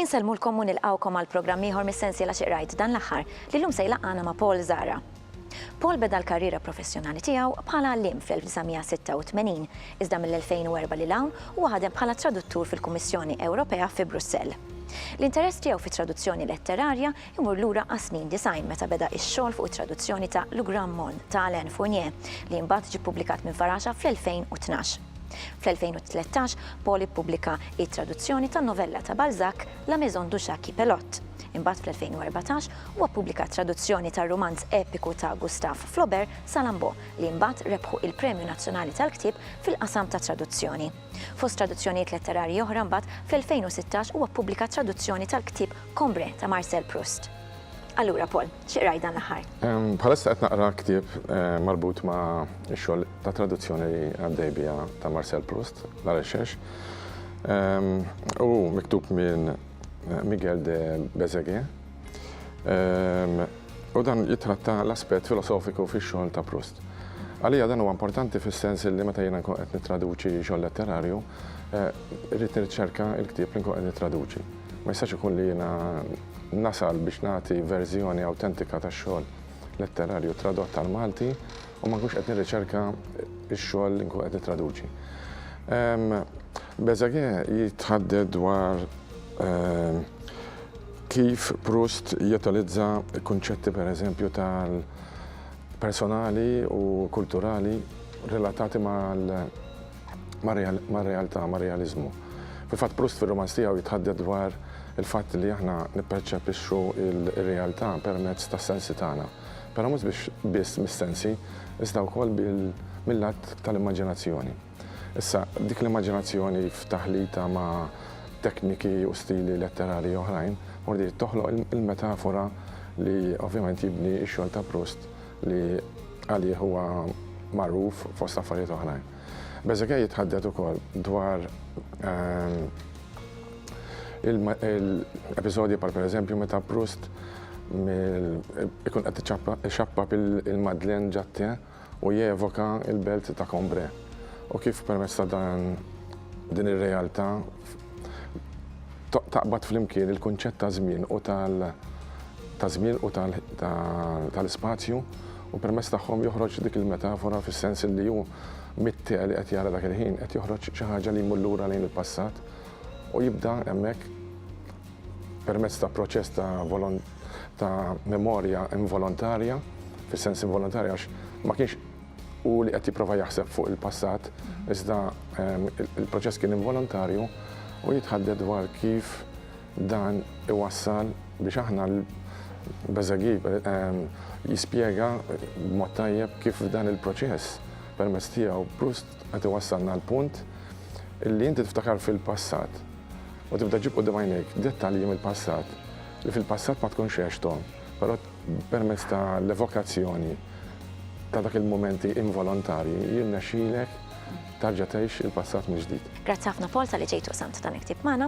Insellmulkom u nilqgħukom għal programm ieħor mis-sensiela Xi Qrajt dan l-aħħar, li llum se jlaqqagħna ma' Paul Zahra. Paul beda l-karriera professjonali tiegħu bħala għalliem fl-1986, iżda mill-2004 lil hawn huwa ħadem bħala traduttur fil-Kummissjoni Ewropea fi Brussell. L-interess tiegħu fit-traduzzjoni letterarja jmur lura għas-snin disgħin meta beda x-xogħol fuq it-traduzzjoni ta' Le Grand Monde ta' Alain Fournier, li mbagħad ġie ppubblikat minn Faraxa fl-2012. Fl-2013, Paul ippubblika t-traduzzjoni tan-novella ta' Balzac, La Maison du Chat qui pelote. Imbagħad fl-2014 huwa ppubblika traduzzjoni tar-rumanz epiku ta' Gustave Flaubert, Salammbô, li imbagħad rebħu il-Premju Nazzjonali tal-Ktieb fil-qasam tat-traduzzjoni. Fost traduzzjonijiet letterarji oħra mbagħad fl-2016 huwa ppubblika traduzzjoni tal-ktieb Combré ta' Marcel Proust. Allura Paul, xi qrajt dan l-aħħar? Bħalissa qed naqra ktieb marbut ma' x-xogħol ta' traduzzjoni li għaddej biha ta' Marcel Proust, La Recherche. U miktub minn Miguel de Bezegue. U dan jitratta l-aspett filosofiku fix-xogħol ta' Proust. Għalija dan huwa importanti fis-sens li meta jiena nkun qed nittraduċi xogħol letterarju, eh, rrid nirċerka l-ktieb li nkun qed nittraduċi. Ma jistax ikun li jiena nasal biex nagħti verżjoni awtentika tax-xogħol letterarju tradott tal-Malti u ma nkunx qed nirriċerka x-xogħol li nkun qed nittraduċi. Bezzage jitħadded dwar kif Proust jotalizza kunċetti per eżempju tal-personali u kulturali relatati mal-realtà, mal-realizmu. Fil-fatt Proust fil-romanz tiegħu jitħadded dwar il-fatt li aħna nipperċepixxu il-realtà permezz tas-sensi tagħna. Però mhux biex biss mis-sensi, iżda wkoll mill-lat tal-immaġinazzjoni. Issa, dik l-immaġinazzjoni f'taħlita ma' tekniki u stili letterarji oħrajn, mordiet toħloq il-metafora li ovvjament jibni x-xogħol ta' Proust li għalih huwa magħruf fost affarijiet oħrajn. Bezuquet jitħaddet ukoll dwar Il-episodji bħal pereżempju meta Proust ikun qed ixappab il-Madeleine ġat-te u jevoka l-belt ta' Cambrai u kif permezz ta' dan din ir-realtà taqbad flimkien il-kunċett ta' żmien u tal ta' żmien u tal-ispazju u permezz tagħhom joħroġ dik il-metafora fis-sens li hu mit-te li qed jara dak il-ħin qed joħroġ xi ħaġa li jmur lura lejn il-passat u jibda hemmhekk permezz ta' proċess ta' ta' memorja involontarja, fis-sens involontarja għax ma kienx u li qed jipprova jaħseb fuq il-passat, iżda ehm, il-proċess kien involontarju u jitħadded dwar kif dan iwassal biex aħna l-beżagi ehm, jispjega b'mod tajjeb kif dan il-proċess permezz tiegħu Proust Qed iwassalna għall-punt li inti tiftakar fil-passat u tibda ġġib quddiem għajnejk dettalji mill-passat li fil-passat ma tkunx għexthom, però permezz ta' l-evokazzjoni ta' dak il-mumenti involontarji jirnexxilek terġa' tgħix il-passat mill-ġdid. Grazzi ħafna Paul talli ġejt u qsamt dan il-ktieb magħna.